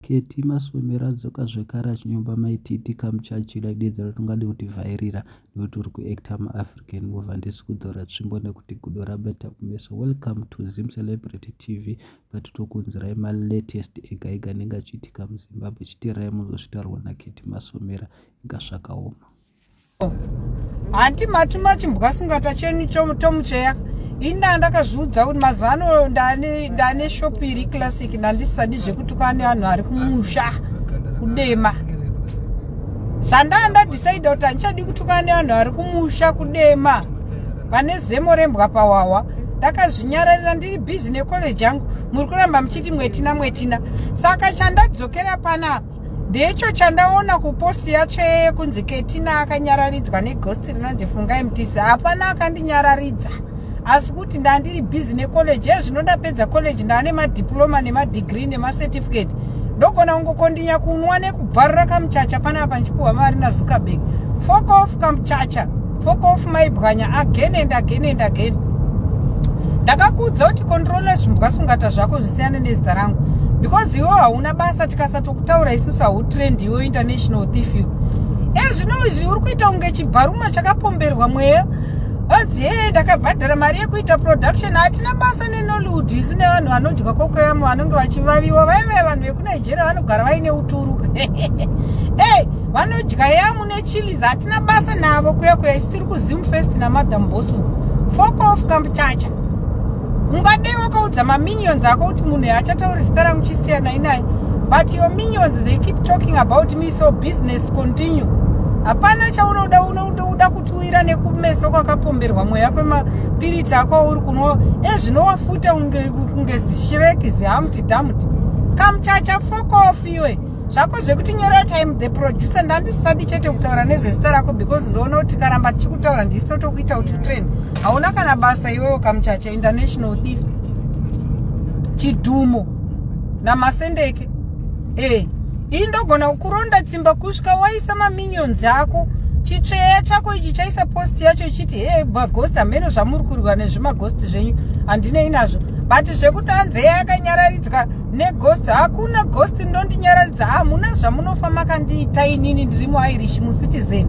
Ketty Masomero adzoka zvekare achinyomba mai Titi kamuchachira idedzero ratingade kuti vhairira nekuti uri kuactor muAfrican movie handisi kudzora tsvimbo nekuti gudo rabata kumeso. Welcome to Zim Celebrity TV patitokuunzirai malatest ega ega anenge achiitika muZimbabwe chitirai muzosvitaurwa naKetty Masomera inga zvakaoma. hanti mati machimbwa sungata chenu chomucheya ini ndaa ndakazviudza kuti mazuva ano ndane shopu iri classic ndandisisadi zvekutukana nevanhu vari kumusha kudema zvandaa ndadecide kuti handichadi kutukana nevanhu vari kumusha kudema vane zemo rembwa pawawa ndakazvinyararira ndiri bhizi necollege yangu muri kuramba muchiti mwetina mwetina saka chandadzokera panapa ndicho chandaona kuposti yatsve yekunzi ketina akanyararidzwa neghosti rinonzi fungai mutisi hapana akandinyararidza asi kuti ndandiri busy necollege ye zvino ndapedza college ndaane madiploma nemadegree nemacertificate ndogona kungokondinya kunwa nekubvarura kamuchacha panapa ndichipuhwa mari nazuckerberg fokof kamuchacha fokofu maibwanya again and again and again ndakakuudza kuti controla zvimbwa sungata zvako zvisiyane nezita rangu because iwo hauna basa tikasatokutaura isusu hautrend iwo international thief you ezvino eh, izvi uri kuita kunge chibharuma chakapomberwa mweya hanzi hee ndakabhadhara mari yekuita production hatina basa nenollywood isu nevanhu vanodya kokoyamo vanenge vachivaviwa vaive vanhu vekunigeria vanogara vaine uturu e vanodya yamu Chilies hatina basa navo kuya kuya isu tiri kuZim Fest naMadam Boss uko. Fuck off kamchacha. Ungadei wakaudza maminions ako kuti munhu yaachatauri zita rangu chisiyanai naye. But your minions they keep talking about me so business continue. Hapana chaunoda unoda kutuwira nekumeso kwakapomberwa mweya kwemapiritsi ako auri kunwa ezvinowafuta eh, kunge zishireki zihamti dhamti. Kamchacha fuck off iwe. zvako zvekutinyora time the producer ndandisisadi chete kutaura nezvezita rako because ndoona kuti karamba tichikutaura ndisi totokuita kuti utrend hauna kana basa iwewo kamuchacha international thief chidhumo namasendeke e ii ndogona kuronda tsimba kusvika waisa maminions ako chitsveya chako ichi chaisa post yacho ichiti he magosti hameno zvamuri kurwa nezvimagosti zvenyu handinei nazvo but zvekuti anzeya yakanyararidzwa neghost hakuna ghost ndondinyararidza hamuna ah, zvamunofa makandiita inini ndiri muirish mucitizen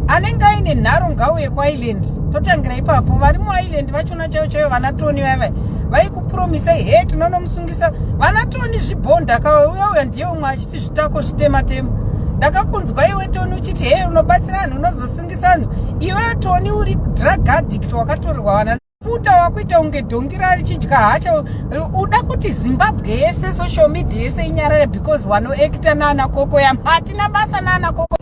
anenge aine nharo ngauye kuireland totangira ipapo vari muireland vachona chaiyo chaiyo vana toni vaiva vaikupromisai he tinonomusungisa vana toni zvibhonda kauya uya ndiye umwe achiti zvitako zvitematema ndakakunzwa iwe toni uchiti he unobatsira vanhu unozosungisa vanhu iwe toni uri drug addict wakatorerwa vana puta wakuita kunge dhongi rarichidya hacha uda kuti zimbabwe yese social media yese inyarare because wanoekita naana koko yam hatina basa naana koko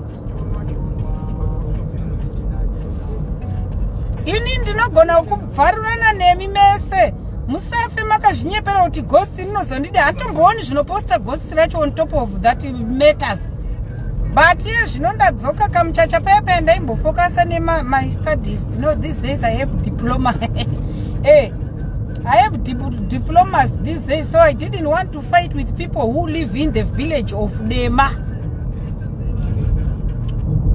ini ndinogona kubvarurana nemi mese musafe makazvinyepera kuti gosi rinozondida hantombooni zvinoposta gosi mukadzi vacho on top of that matters but iye zvino ndadzoka kamuchacha paya paya ndaimbofokasa nemay studies no these days i have diploma eh I have dip diplomas these days, so I didn't want to fight with people who live in the village of Dema.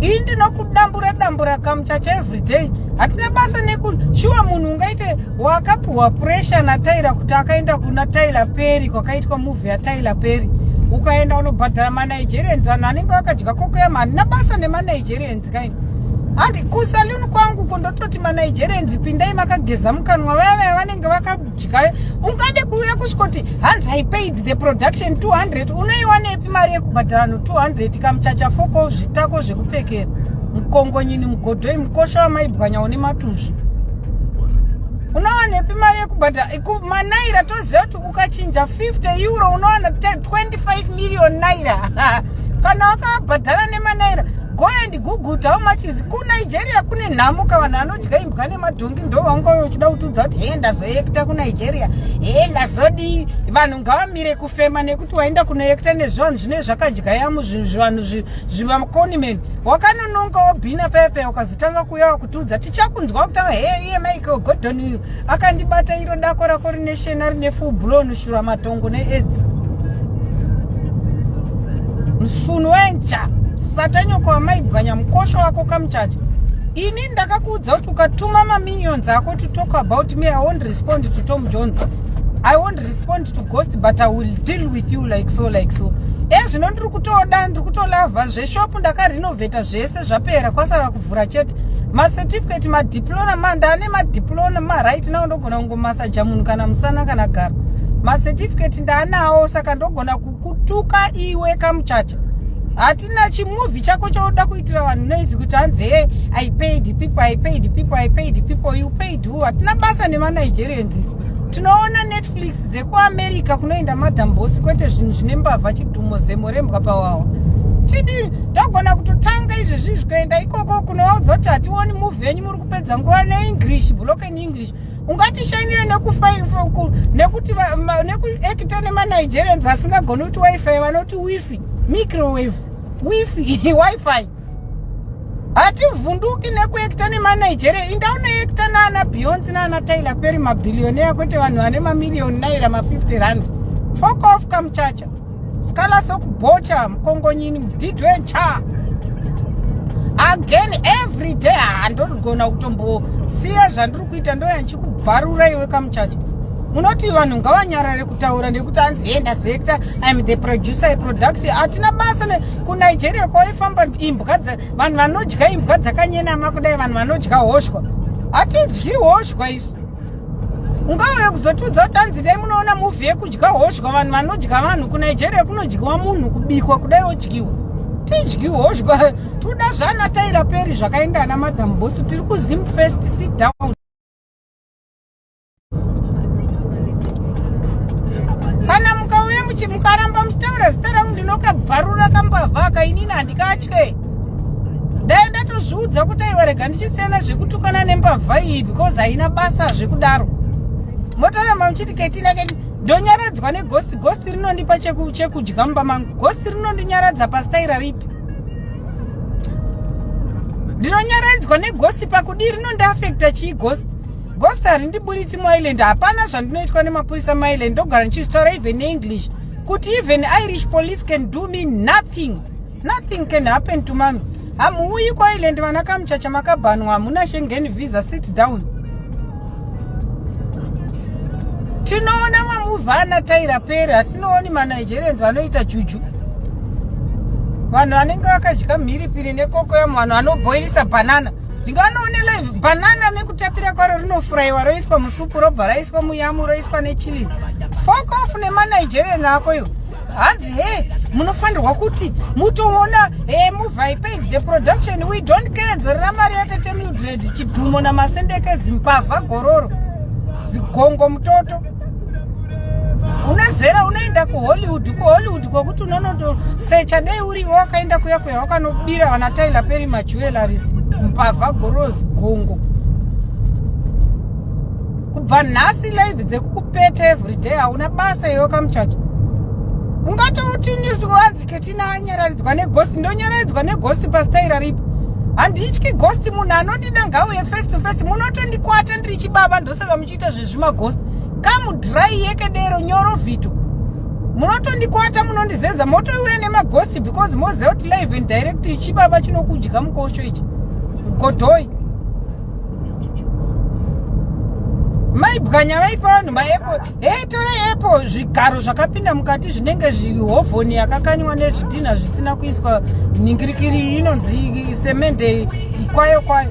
Ini ndinokudambura dambura kamuchacha every day. Hatina basa neku shuwa munhu ungaite wakapiwa pressure natyler kuti akaenda kuna tyler peri kwakaitwa movie yatyler peri ukaenda unobhadhara manigerians vanhu anenge akadya kokoyama handina basa nemanigerians kaini handi kusaluni kwangu ko ndototi manigerians pindai makageza mukanwa vaya vaya vanenge vakadya ungade kuuya kusvikoti hanzi i paid the production 200 unoiwanepi mari yekubhadhara no 200 kamuchacha foko zvitako zvekupfekera mukongonyini mugodhoi mukosha wamaibwanya une matuzvi unowanepi mari yekubhadhara manaira toziva kuti ukachinja 50 euro unowana 25 million naira kana wakabhadhara nemanaira go and google how much is kunigeria kune nhamo ka vanhu anodya imbwa nemadhongi ndo vaunga uchida kutiudza kuti hee ndazoekta kunigeria hee ndazodii vanhu ngavamire kufema nekuti waenda kunoekta nezvivanhu zvine zvakadyayamo zvivanhu zvivakonimeni wakanononga wobhina paya paya ukazotanga kuya tudza tichakunzwa kutaura hee iye michael gordon uyu akandibata iro dako rako rine shena rine full blown shura matongo needzi msunu wencha satanyoko wamaibwanya mukosho wako kamuchacho ini ndakakuudza kuti ukatuma maminions ako to talk about me i won't respond to tom jones i won't respond to ghost but i will deal with you like so like so ezvino eh, ndiri kutoda ndiri kutolavha zveshopu ndakarinovheta zvese zvapera kwasara vhura chete macertificate madiplona manda ane madiplona maright nawo ndogona kungomasaja munhu kana musana kana gara macertificate ndaanawo saka ndogona kukutuka iwe kamuchacha hatina chimuvi chako chauda kuitira vanhu noizi kuti hanzi he i paid people i paid people i paid people you paid who hatina basa nemanigeria nziso tinoona netflix dze kuamerica kunoenda madam bosi kwete zvinhu zvine mbavha chidhumo zemo rembwa pawawa tidi ndogona kutotanga izvi zvizvi kuenda ikoko kunovaudza kuti hationi move yenyu muri kupedza nguva neenglish bloken english ungatishainire nekuti nekuekita nemanigerians asingagoni kuti wifi vanoti wifi microwave wifi wifi hativhunduki nekuekta nemanigeria inda unoekta naana beyonce naana tyler peri mabhilioneya kwete vanhu vane mamiriyoni naira ma50 rand fok off kamuchacha skala sokubocha mukongonyini mudidwe ncha again every day handogona ah, kutombosiya zvandiri kuita ndoya ndichikubvarura iwe kamuchacha munoti vanhu ngavanyarare kutaura nekuti anzi enda zoekta im the producer product hatina basa kunigeria kwaifamba imbwa vanhu vanodya imbwa dzakanyenama kudai vanhu vanodya hoshwa hatidyi hoshwa isu ungave kuzotiudza kuti anzi dai munoona muvhi yekudya hoshwa vanhu vanodya vanhu kunigeria kunodyiwa munhu kubikwa kudai odyiwa tidyi hoshwa toda zvana taira peri zvakaenda ana madam bosu tiri kuzim first sit down kana mukauya mukaramba muchitaura zita rangu ndinokabvarura kambavhaka inini handikatye dai ndatozviudza kuti aiwa rega ndichisiyana zvekutukana nembavha iyi because haina basa zvekudaro motoramba muchiti ketina keti ndonyaradzwa negosti gosti rinondipa chekudya mumba mangu gosti rinondinyaradza pastaira ripi ndinonyaradzwa negosti pakudii rinondiafekta chii gosti Ghost harindiburitsi muIreland hapana zvandinoitwa nemapurisa muIreland ndogara ndichizvitaura even neenglish kuti even irish police can do me nothing nothing can happen to mami hamuuyi kuireland vana kamuchacha makabhanwa hamuna shengen visa sit down tinoona mamuva ana taira pere hatinooni manigerians vanoita juju vanhu vanenge vakadya mhiripiri nekoko yamu vanhu vanoboirisa banana ndinganoone live banana nekutapira kwaro rinofuraiwa roiswa musupu robva raiswa muyamu roiswa nechilies fokof nemanigerian ako yo hanzi he munofanirwa kuti mutoona e muvai paid the production we don't care dzorera mari yatete mildred chidhumo namasendeke zimbavha gororo zigongo mutoto unezera unoenda kuhollywood kuhollywood kwokuti unonotosecha dei urivo wakaenda kuya kuya wakanobira vana tyler peri majewelaris mbavha gorozi gongo kubva nhasi live dzekukupeta everyday hauna basa iyo kamuchacho ungatouti wanzi ketina anyararidzwa negosti ndonyararidzwa negosti pastaira ripi handityi gosti munhu anondida ngauye face to face munotondikwata ndiri chibaba ndosaka ita zvezvimaghost kamudhirai yekedero nyoro vhito munotondikwata munondizeza motouya nemaghost because moziva kuti live and direct ichibaba chinokudya mukosho ichi godhoi maibwanya vaipa vanhu maepo hei torai epo zvigaro zvakapinda mukati zvinenge zvihovhoni yakakanywa nezvidhinha zvisina kuiswa nhingirikiri inonzi semende kwayo kwayo